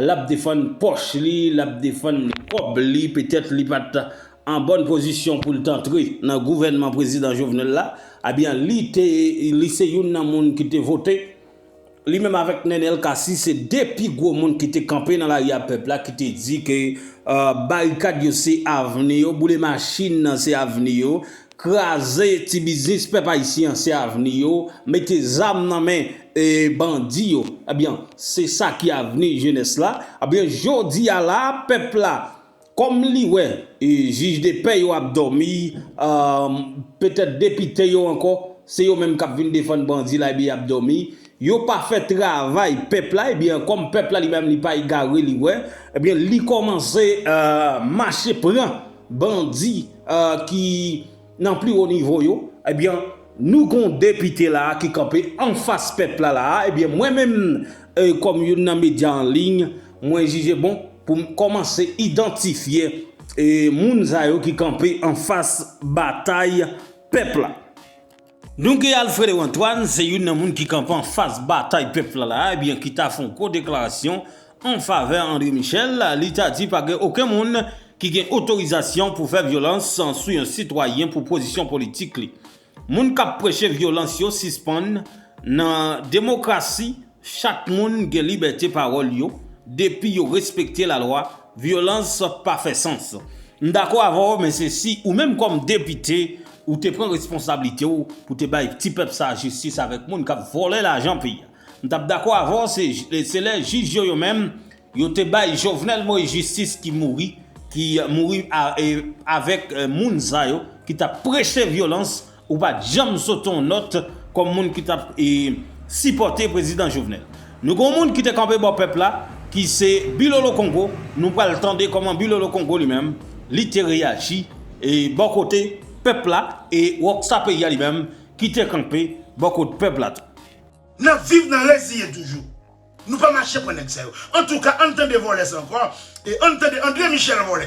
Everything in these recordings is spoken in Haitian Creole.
Lap defann pòch li, lap defann kòb li, petèt li pat an bòn pozisyon poul t antre nan gouvènman prezidan Jovenel la, ebyen li te li se youn nan moun ki te vote, li menm avèk Nenel Cassy se 2 pi gwo moun ki te kanpe nan lari a pèp la ki te di ke barikad yo se avni yo, boule machin nan se avni yo, Kraze ti biznis pèp ayisyen an se avni yo, mete zam nan men bandi yo ebyen se sa ki avni jenès la ebyen jodi a la pèp la kòm li wè jij de pè yo ap dòmi petèt depite yo ankò se yo menm kap vin defann bandi la ebyen yap dòmi yo pa fè travay pèp la ebyen kòm pèp la li menm li pa egare li wè ebyen li kòmanse mache pran bandi. ki nan pli wo nivo yo ebyen nou gon depite la ki kanpe anfas pèp la la ebyen mwen menm kòm youn nan medya an liy mwen jije bon pou m kòmanse idantifye moun sa yo ki kanpe anfas batay pèp la. Nou gen Alfredo Antoine, se youn nan moun ki kanpe an fas batay pèp la la, ebyen ki ta fè yon gwo deklarasyon an favè André Michel, li ta di pa gen oken moun ki gen otorizasyon pou fè vyolans sou yon sitwayen pou pozisyon politik li. Moun kap preche vyolans yo sispann nan demokrasi. Chak moun gen libète pawòl yo depi yo respekte lalwa, vyolans pa fè sans. M dakò avè w men se si ou menm kòm depite ou te pran responsablite w pou te bay ti pèp sa jistis avèk moun kap vòlè lajan peyi a m tap dakò avè w se lè jij yo yo menm yo te bay Jovenel Moïse jistis ki mouri ki mouri avèk moun sa yo ki tap preche vyolans Ou pat janm sote yon nòt kòm moun ki tap sipòte prezidan Jovenel. Nou gen yon moun ki te kanpe bò pèp la ki se Bilolo Kongo, nou pral tande kòman Bilolo Kongo li menm li te reyaji bò kote pèp la e Rockstar peyi a li menm ki te kanpe bò kot pèp la tou. Nap viv nan reziyen toujou. Nou pa mache pran nèg sa yo. Antouka ann tande vòlè sa ankò e ann tande André Michel vòlè.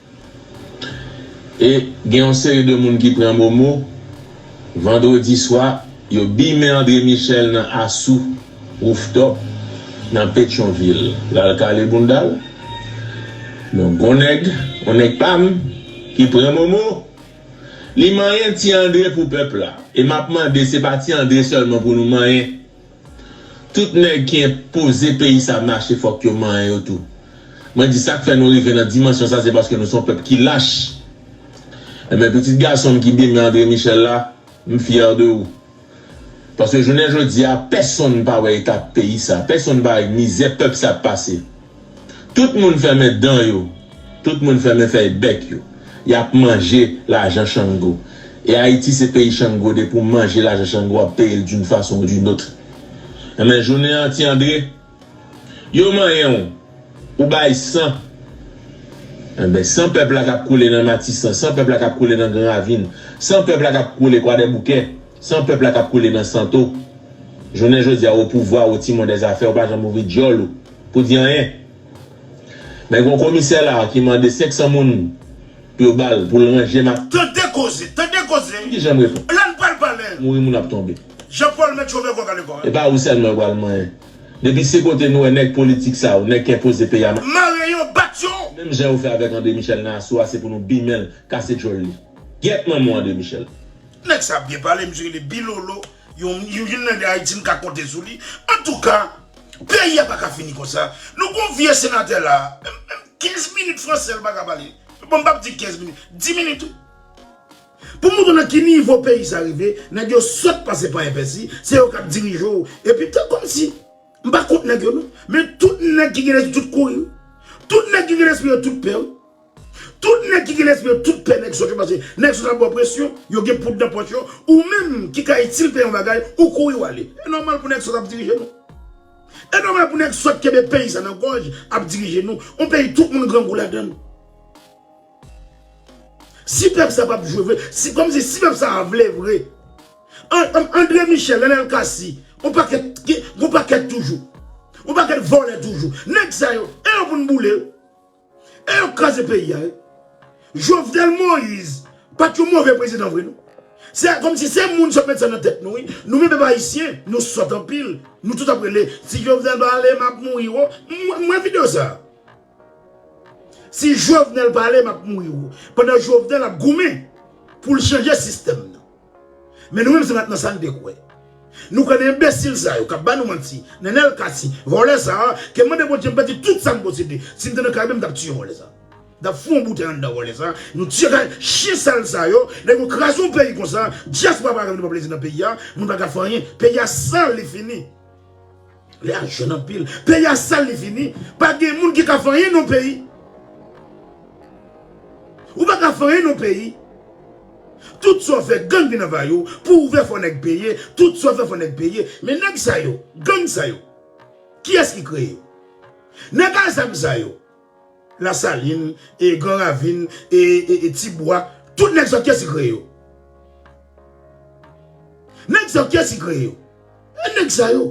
E gen yon seri de moun ki pran momo vandredi swa yo bimen Andre Michel nan Asou Rooftop nan Petyonvil lal kale boundal. Donk gon nèg, yon nèg pam ki pran momo li manyen ti Andre pou pèp la. E map mande se pa ti Andre sèlman pou nou manyen. Tout nèg ki enpoze peyi sa mache fòk yo manyen yo tou. Mwen di sak fè nou rive nan dimansyon sa se paske nou son pèp ki lach. Enben pitit gason m ki demen Andre Michel la, m fyè de ou. Paske jounen jodi a pèsonn pa wè eta peyi sa, pèsonn pa wè mizè pèp sa ap pase. Tout moun fèmen dan yo, tout moun fèmen fèy bèk yo. Yap manje lajan chango. E Ayiti se peyi chango depi w manje lajan chango wap peye l d'une façon ou d'une autre. Enben jounen an ti Andre, yo manyen w, ou bay san. Enben san pèp la kap koule nan Matisan, san pèp la kap koule nan Gran Ravin, san pèp la kap koule Kwadèboukè, san pèp la kap koule nan Santo. Jounen jodi a ou o pouvwa, ou timon dè zafè, ou pa janm ouvri dyòl ou. Pou di anyen. Men gon komisè la ki mande 500 moun pou yo bal poul ranje ma. Tande koze! Tande koze! Ki janm reponn. La n pral pale! Mouri moun ap tonbe. Jean Paul met chofè kò kale kò. E pa ou sèlman yo pral manyen. Depi se kote nou wè nèg politik sa yo, nèg ki enpoze peyi a ma. Mare yo, bat yo! Menm jan yo fè avèk André Michel nan aso a se pou nou bimenl, kase djòl li. Gyèt manman w André Michel. Nèg sa ap byen pale, misye rele Bilolo. Yon youn nan de Haiti m ka konte sou li antouka peyi a paka fini konsa nou gon vye senatè la menm 15 minit fransè l paka pale bon m pap di 15 minit 10 minit wi pou moutre w nan ki nivo peyi sa rive nèg yo sòt pase panyen pèsi se yo kap dirije w epi te komsi m pa kont nèg yo non men tout nèg ki gen lespri tout kouri wi tout nèg ki gen lespri yo tout pè wi. Tout nèg ki gen lespri yo tout pè nèg sòt yo paske nèg sòt ap ba w presyon, yo gen poud nan pòch yo, ou menm ki ka itil peyi yon bagay ou kouri wale. E nòmal pou nèg sòt ap dirije nou. E nòmal pou nèg sòt kenbe peyi sa nan gòj ap dirije nou, yon peyi tout moun grangou ladann. Si pèp sa pap jwe vre, si kòm si si pèp sa a vle vre, Andre Michel, Nenel Cassy, yon pakèt gen yon pakèt toujou, yon pakèt vòlè toujou, nèg sa yo e yo pou n boule yo. E yo kraze peyi a wi. Jovenel Moise pat yon move prezidan vre non. Se kom si se moun sot met sa nan tet nou wi. Nou menm pèp ayisyen nou sot anpil. Nou tout ap rele si Jovenel pa ale map mouri wo. M wè video sa. Si Jovenel pa ale map mouri wo. Pandan Jovenel ap goumen pou l chanje sistèm nan. Men nou menm se pat nan sa n te kwè. Nou kwè nan enbesil sa yo k ap ba nou manti, Nenel Cassy, vòlè sa a, ke mande Bondye m pèdi tout sa m posede. Si m te nan Karayibe m t ap tiye vòlè sa a. M t ap fou yon boutèy anndan vòlè sa a. Nou tiye kay chyen sal sa yo. Lè yo kraze yon peyi konsa, dyaspora pa ka vin pran plezi nan peyi a. Moun pa ka fè anyen. Peyi a sal, li fini. Lè a jèn anpil. Peyi a sal li fini. Pa gen moun ki ka fè anyen non peyi. Ou pa ka fè anyen non peyi. Tout sa w fè gang vin anvayi w. Pou w ouvè fò nèg peye. Tout sa w fè fò nèg peye. Men nèg sa yo, gang sa yo. Kiyès ki kreye yo? Nèg a zam sa yo. Lasalin, Gran Ravin, Tibwa, tout nèg zòt kiyès ki kreye yo? Nèg sa yo kiyès ki kreye yo? E nèg sa yo.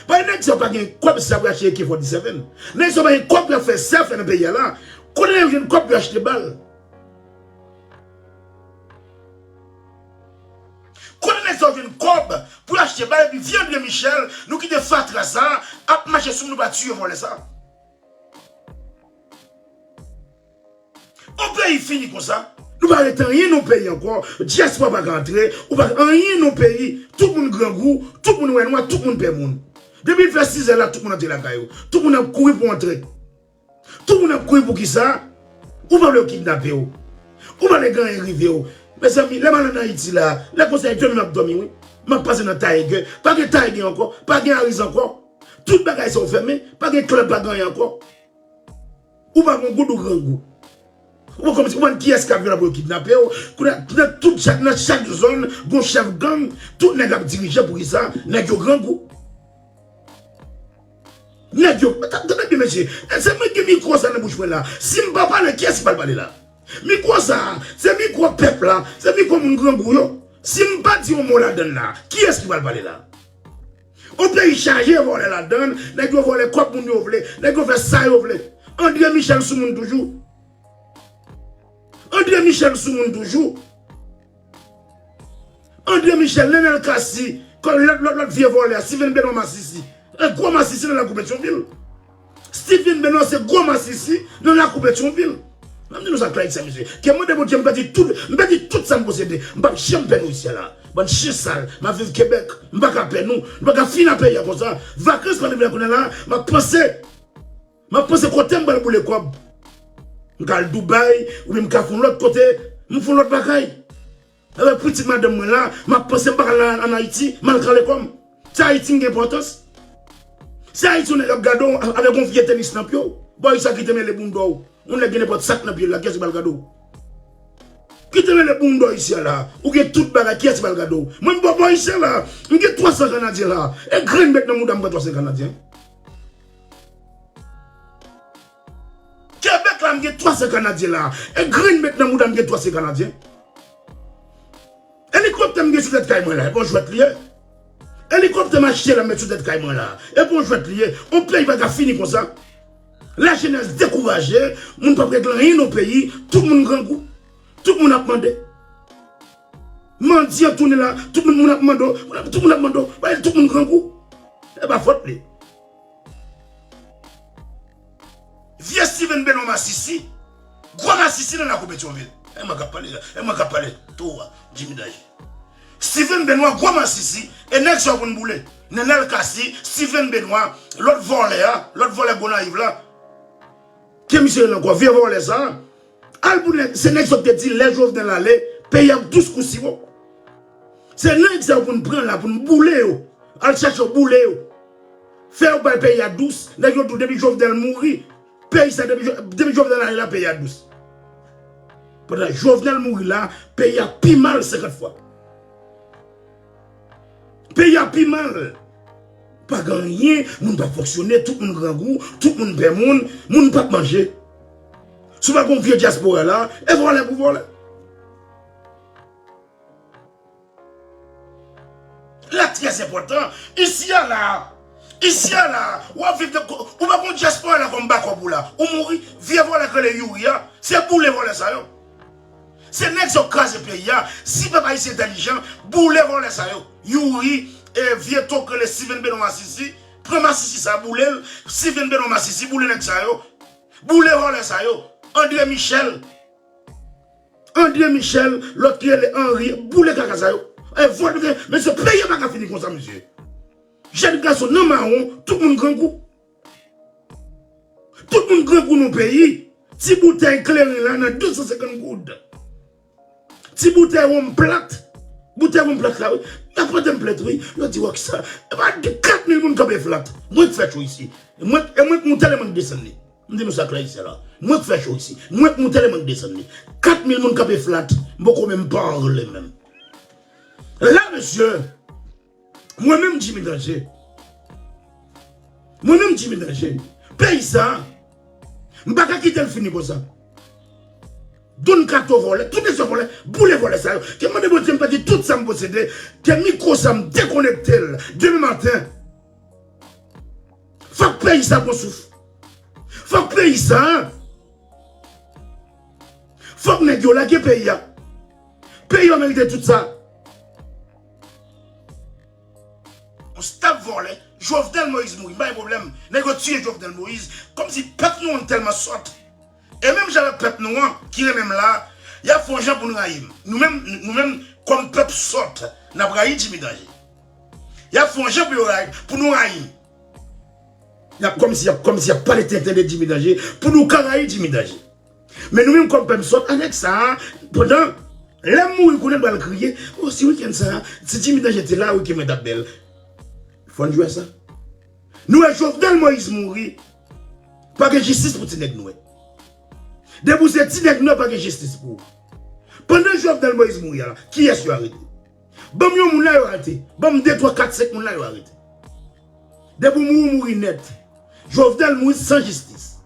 Paske nèg sa yo pa gen kòb sa pou yo achte AK-47. Nèg sa yo pa gen kòb pou yo fè sa yo fè nan peyi a la. Kote nèg yo jwenn kòb pou yo achte bal? Kote nèg sa yo jwenn kòb pou yo achte bal epi vye André Michel nou kite fatra sa a ap mache sou moun nou pa tiye vòlè sa a? On peyi fini konsa. Nou pa rete anyen non peyi ankò, diaspora pa ka antre, ou pa anyen non peyi, tout moun grangou, tout moun wè nwa, tout moun pè moun. Depi fè 6 zè la tout moun antre lakay yo, tout moun ap kouri pou antre. Tout moun ap kouri poukisa? Ou pa vle yo kidnape w. Ou pa vle gen anyen rive w. Mezanmi lè m al an Ayiti la, lè konsa e dòmi m ap dòmi wi. M ap pase nan Taïge, pa gen Taïge ankò, pa gen Ariz ankò. Tout bagay sa yo fèmen, pa gen club pa gen anyen ankò. Ou pa gon goud ou grangou. Ou pa konn ou pa kiyès kap vin la pou yo kidnape w. Kounye a nan tout chak nan chak zòn gon chèf gang, tout nèg ap dirije poukisa nèg yo grangou. Nèg yo tande byen mesye, se mwen ki gen mikwo sa nan bouch mwen la, si m pa pale kiyès ki pral pale la? Mikwo sa se mikwo pèp la, se mikwo moun grangou yo, si m pa di yon mo ladann la, kiyès ki pral pale la? On peyi chaje vòlè ladann, nèg yo vòlè kòb moun yo vle, nèg yo fè sa yo vle. Andre Michel sou moun toujou. Andre Michel sou moun toujou. Andre Michel, Nenel Cassy, kòl lòt lòt lòt vye vòlè a, Steven Benoît masisi. Gwo masisi nan lagou Petyonvil. Steve vin denonse gwo masisi nan lakou Petyonvil. Map di nou sa Clyde Saint Juste, kem mande Bondye m pèdi tout, m pèdi tout sam posede, m pap janm pè nou isyè la. Bann chyen sal, map viv Québec, m paka pè nou, nou paka fin a peyi a konsa. Vakans pral rive la kounya la, map panse, map panse kotem pral boule kòb. M ka al Dubai, oubyen m ka fon lòt kote, m fon lòt bagay. Lè pitit madanm mwen la, m ap panse m pa ka al ann Ayiti, m al kale kò m. Se Ayiti m gen enpòtans. Se Ayiti yon nèg ap gade w avèk yon vye tenis nan pye w. Bon e sa ki te mele bounda w? Yon nèg gen nenpòt sak nan pye l la, kiyès ki pral gade w? Ki te mele bounda w isi a la? Ou gen tout bagay, kiyès ki pral gade w? Mwen m pa bò ayisyen la a. M gen 300 kanadyen la a. E grenn bèt nan mouda m pran 300 kanadyen? Québec la m gen 3 zè kanadyen la e grenn met nan moudam gen 3 zè kanadyen elikoptè m gen sou tèt kay mwen la e bon jwèt li ye elikoptè m achte la m met sou tèt kay mwen la e bon jwèt li ye on peyi pa ka fini konsa la jenès dekouraje moun pap regle anyen nan peyi tout moun grangou tout moun ap mande mandyan tounen la tout moun ap mande tout moun ap mande tout moun grangou e pa fòt li. Vye Steven Belon masisi, gwo masisi nan lakou Petyonvil. E mwen kap pale la, e mwen kap pale towo a, Jimmy Danger. Steven Benoit gwo masisi, e nèg sa yo konn boule. Nenel Cassy, Steven Benoit, lòt vòlè a, lòt vòlè Gonayiv la. Ke misye gen nan kò, vye vòlè sa a. Al pou nèg, se nèg sa ou te di lè Jovenel ale, peyi ap dous kou siwo. Se nèg sa yo pou nou pran la, pou nou boule yo. Al chèche yo boule yo. Fè yo bay peyi a dous. Nèg yo di w depi Jovenel mouri, peyi sa depi depi Jovenel ale la peyi a dous. Pandan Jovenel mouri la, peyi a pi mal 50 fwa. Peyi a pi mal. Pa gen anyen, moun pa fonksyone, tout moun grangou, tout moun pè moun, moun pap manje. Si w pa gon vye dyaspora la, e vòlè pou vòlè. Lè trè enpòtan, isi a la, isi a la, w ap viv, ou pa gon dyaspora la kòm bakòp ou la, ou mouri. Vye vòlè k rele Youri a, se boule vòlè sa yo. Se nèg sa yo k kraze peyi a, si pèp ayisyen entèlijan, boule vòlè sa yo. Youri, e vye to k rele Steven Benoît masisi, pran masisi sa boule l, Steven Benoît masisi boule nèg sa yo. Boule vòlè sa yo. Andre Michel, Andre Michel, lòt ki rele Henri, boule kaka sa yo. E vòlè gen, mesye peyi a pa ka fini konsa mesye. Jèn gason nan mawon, tout moun grangou. Tout moun grangou non peyi. Ti boutèy kleren la nan 250 goud. Ti boutèy wonm plat. Boutèy wonm plat la wi. Y ap vande m plat wi. Yo di w ak sa. E pa gen 4000 moun k ap bwè plat. Mwen k fè cho isi. E mwen k moute lè m annik desann li. M di nou sa klè isyè la. Mwen k fè cho isi. Mwen k moute lè m annik desann li. 4000 moun k ap bwè plat. M poko menm parle menm. La mesye. Mwen menm Jimmy Danger, mwen menm Jimmy Danger, peyi sa a, m pa ka kite l fini konsa. Don Kato vòlè, tout esè vòlè, boule vòlè sa yo. Ke m mande Bondye m pèdi tout sa m posede, ke mikwo sa m dekonekte l demen maten. Fòk peyi sa a pran souf. Fòk peyi sa a, fòk nèg yo lage peyi a. Peyi a merite tout sa. Yon staf vòlè, Jovenel Moïse mouri m pa gen pwoblèm, nèg yo tiye Jovenel Moïse kòm si pèp nou an tèlman sòt e menm jan avèk pèp nou an ki renmen m la yap fè yon jan pou n rayi m nou menm nou menm kòm pèp sòt nap rayi Jimmy Danje yap fè yon jan pou yo rayi pou nou rayi m yap kòm si yap kòm si yap pale tenten de Jimmy Danje pou nou ka rayi Jimmy Danje. Men nou menm kòm pèp zòt avèk sa a pandan Lè m mouri konnen m pral kriye Oh si wikenn sa a Ti Jimmy Danger te la wikenn mwen t ap bèl Fò n jwè sa Nou wè Jovenel Moïse mouri Pa gen jistis pou ti nèg nwè Depi w se ti nèg nwè pa gen jistis pou ou Pandan Jovenel Moïse mouri a la kiyès yo arete Banm yon moun la yo arete. Banm de twa kat senk moun la yo arete. Depi ou mouri ou mouri nèt. Jovenel mouri san jistis.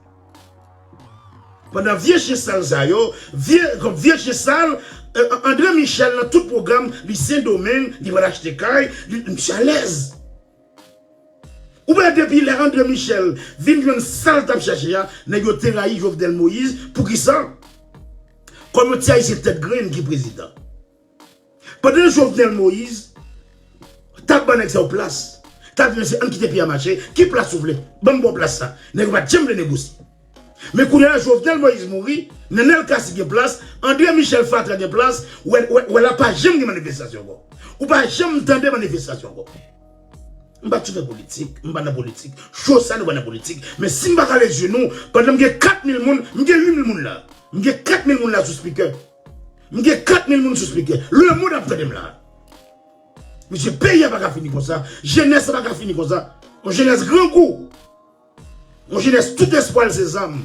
Pandan vye chyen sal sa yo, vye kòm vye chyen sal Andre Michel nan tout pwogram li sendomeng li pral achte kay li misye alèz. Ou pa wè depi lè Andre Michel vin jwenn sal tap chache a nèg yo te rayi Jovenel Moïse poukisa? Kòm yon ti ayisyen tèt grenn ki prezidan. Pandan Jovenel Moise tap ban nèg sa yo plas, tap di mesye ann kite peyi a mache, ki plas ou vle? Banm baw plas sa. Nèg yo pat janm vle negosye. Men kounye a Jovenel Moise mouri, Nenel Cassy gen plas, André Michel fatra gen plas, wè la pa janm gen manifestasyon ankò. Ou pa janm tande manifestasyon ankò. M pa tchoute politik, m pa nan politik, cho sa nou pa nan politik, men si m pa kale zye nou, pandan m gen 4 mil moun, m gen 8 mil moun la, m gen 4 mil moun la sou speaker. M gen 4000 moun sou speaker. Le monde ap tandem la. Mesye peyi a paka fini konsa. Jenès la paka fini konsa. Yon jenès grangou. Yon jenès tout espwa l se zam.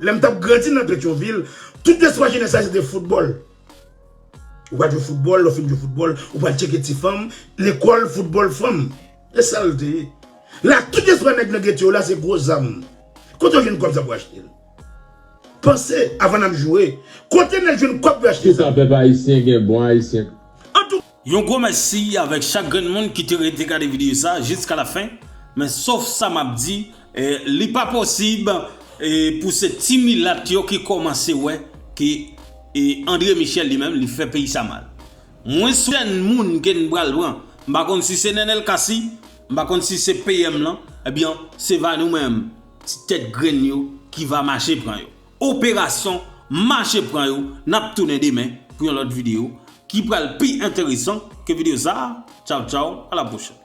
Lè m tap grandi nan Petyonvil, tout espwa jenès la se te foutbòl. Ou va jwe foutbòl, lè w fin jwe foutbòl, ou pral tcheke ti fanm, lekòl, foutbòl, fanm. E sa l te ye. La tout espwa nèg nan gete yo la se gwo zam. Kote w jwenn kòb sa pou achte l? Panse avan nap joure. Kote nèg jwenn kòb yo achte zam. Kisa pèp ayisyen gen bon ayisyen. Yon gwo mèsi avèk chak grenn moun ki te rete gade videyo sa jiska la fen men sof sa map di li pa posib pou se ti milat yo ki kòmanse wè ke André Michel li menm li fè peyi sa mal mwen sou kèn moun ke n pral pran m pa konn si se Nenel Cassy m pa konn si se PM lan ebyen se va nou menm Ti tèt grenn yo ki va mache pran yo. Operasyon mache pran yo nap tounen demen pou yon lòt video ki pral pi enteresan ke video sa a tchaw tchaw a la pwochèn.